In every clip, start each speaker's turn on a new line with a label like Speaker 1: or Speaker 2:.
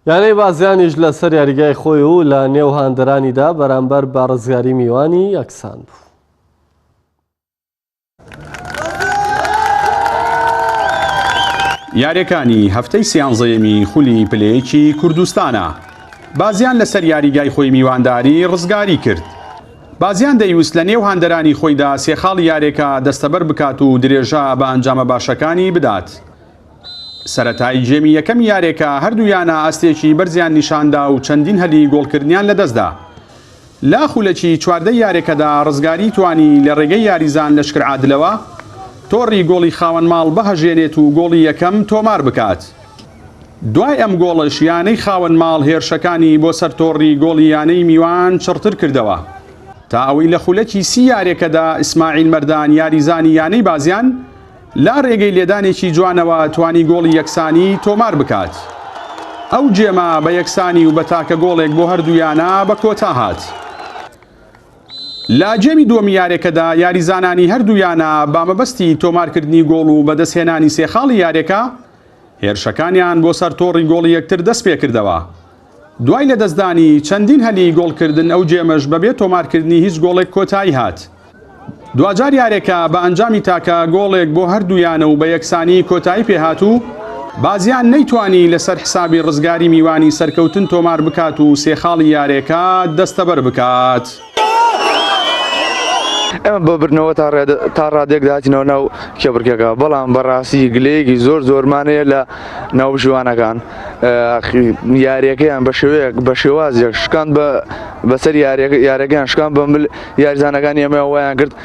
Speaker 1: یانەی بازیانیش لەسەر یاریگای خۆی و لە نێو هاندەرانیدا بەرامبەر بە ڕزگاری میوانی یەکسان بوو.
Speaker 2: یاریەکانی هەفتەی سیانزەیەمی خولی پلەیەکی کوردستانە بازیان لەسەر یاریگای خۆی میوانداری ڕزگاری کرد بازیان دەیوست لە نێو هاندەرانی خۆیدا سێخاڵی یارێکە دەستەبەر بکات و درێژە بە ئەنجامە باشەکانی بدات سەرەتای گێمی یەکەمی یاریەکە هەردوو یانە ئاستێکی بەرزیان نیشاندا و چەندین هەلی گۆڵکردنیان لەدەستدا لە خولەکی چواردەی یاریەکەدا ڕزگاری توانی لە ڕێگەی یاریزان لە شکر عادلەوە تۆڕی گۆڵی خاوەن ماڵ بهەژێنێت و گۆڵی یەکەم تۆمار بکات. دوای ئەم گۆڵەش یانەی خاوەن ماڵ هێرشەکانی بۆ سەر تۆڕی گۆڵی یانەی میوان چڕتر کردەوە تا ئەوەی لە خولەکی سی یاریەکەدا ئیسماعیل مەردان یاریزانی یانەی بازیان لە رێگەی لێدانێکی جوانەوە توانی گۆڵی یەکسانی تۆمار بکات. ئەو گێمە بە یەکسانی و بە تاکە گۆڵێک بۆ هەردوو یانە بە کۆتا هات. لە گێمی دووەمی یارێکەدا یاریزانانی هەردوو یانە بە مەبەستی تۆمارکردنی گۆڵ و بەدەستهێنانی سێ خاڵی یارێکە، هێرشەکانیان بۆ سەر تۆڕی گۆڵی یەکتر دەستپێکردەوە. دوای لەدەستدانی چەندین هەلی گۆڵکردن ئەو گێمەش بەبێ تۆمارکردنی هیچ گۆڵێک کۆتایی هات. دواجار یارێکە بە ئەنجامی تاکە گۆڵێک بۆ هەردوو یانە و بە یەکسانی کۆتایی پێهات و بازیان نەیتوانی لەسەر حسابی رزگاری میوانی سەرکەوتن تۆمار بکات و سێ خاڵی یارێکە دەستەبەر بکات.
Speaker 3: ئێمە بە بردنەوە تا ڕادێک داچینەوە ناو کێبڕکێکە بەڵام بەڕاستی گلەیەکی زۆر زۆرمانەیە لە ناو ژوانەکان یاریەکەیان بە شێوەیەک بە شێوازێک شکان بە بەسەر یارەکان شکان بە مل یاریزانەکانی ئەمە وایان کرد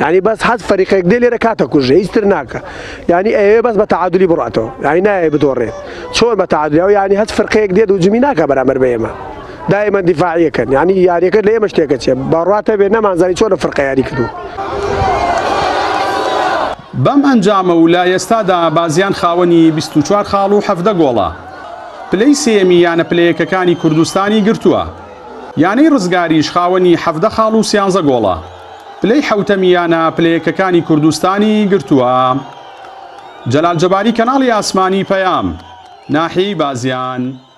Speaker 4: یعنی بەس حەز فەریقێک دێ لێرە کاتە کوژە هیچ تر ناکە یعنی ئەوێ بەس بە تعادلی بڕاتەوە یعنی نایە بدۆڕێت چۆن بە تعادلیەوە یعنی هەست فرقەیەک دێت و جمی ناکە بەرامبەر بە ئێمە دائما دیفاعیەکەن یعنی یاریەکە لە ئێمە شتێکە چێ بەڕاتە بێ نەمانزانی چۆن فرقە یاری کردو
Speaker 2: بەم ئەنجامە و لە ئێستادا بازیان خاوەنی 24 خاڵ و حەفدە گۆڵە پلەی سێمی یانە پلەیەکەکانی کوردستانی گرتووە یانەی ڕزگاریش خاوەنی حەفدە خاڵ و سیانزە گۆڵە پلەی حەوتەمی یانە پلەیەکەکانی کوردستانی گرتووە. جەلال جەباری کەناڵی ئاسمانی پەیام ناحیەی بازیان